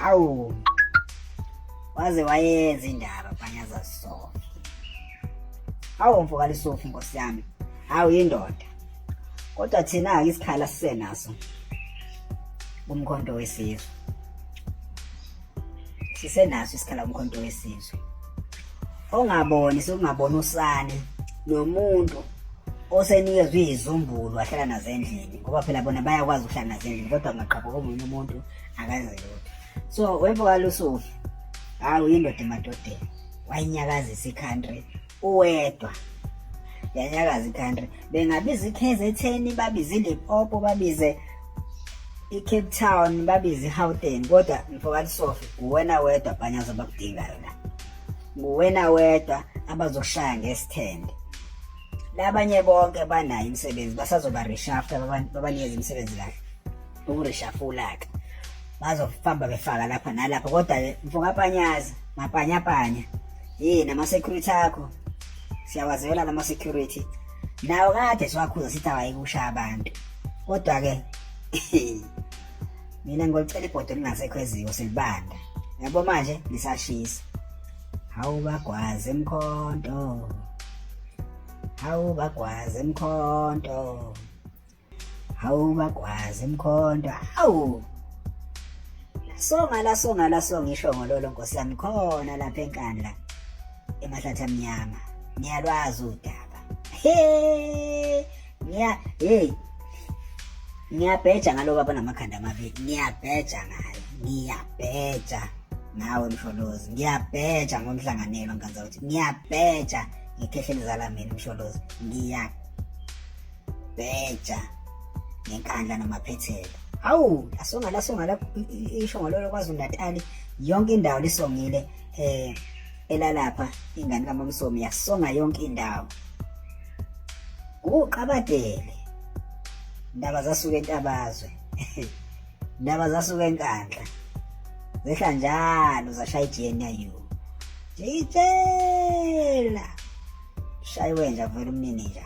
Awu. Waze wayenza indaba banyaza Sofi. Awu mfokali Sofi nkosi yami. Awu indoda. Kodwa thina ake isikhala sisenaso. Umkhonto wesizwe. Sisenaso isikhala umkhonto wesizwe. Ongaboni sokungabona usane nomuntu osenikezwe izizumbulu wahlala nazo endlini ngoba phela bona bayakwazi ukuhlala nazo endlini kodwa ngaqhabuka omunye umuntu akaze lutho so webokala usufi hawu yindoda emadodeni wayinyakazisa i-country uwedwa yanyakaza i-country bengabiza i-kzn babize ilipopo babize i-cape town babize i-houghton kodwa mfokati sofi nguwena wedwa bhanyazo abakudingayo la nguwena wedwa abazokushaya ngesithende labanye bonke banayo imisebenzi basazoba reshafta babanikeza imisebenzi kahle ukurishafula-ke bazofamba befaka lapha nalapha kodwa-ke mfokapanyaza mapanyapanya yini ama-security akho siyawazela lama security nawo kade siwakhuza sithi awayikushaya abantu kodwa-ke mina ngolicela ibhodo lingasekho eziko silibanda yabo manje lisashisa hawu bagwaze mkhonto hawu bagwaze mkhonto hawu bagwazi mkhonto hawu songa la songa la songa ishongololo nkosi yami khona lapha enkandla emahlathi amnyama ngiyalwazi udaba he ngiya hey ngiyabheja ngalo baba namakhanda amabili ngiyabheja ngayo ngiyabheja nawe msholozi ngiyabheja ngomhlanganelo nganza ukuthi ngiyabheja ngikhehlelezala mina msholozi ngiya bheja ngenkandla namaphethelo hawu lasonga lasonga lapho isho ngalolo KwaZulu-Natali yonke indawo lisongile eh elalapha ingane kaMamsomi yasonga yonke indawo uqabadele ndaba zasuka entabazwe ndaba zasuka enkandla zehla njalo zashaya iGNU jitshela shaywe nje avele umnini nje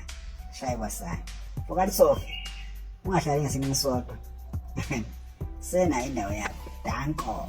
shaye kwasana fokali sofa ungahlali ngesinye isodwa sena indawo yakho danko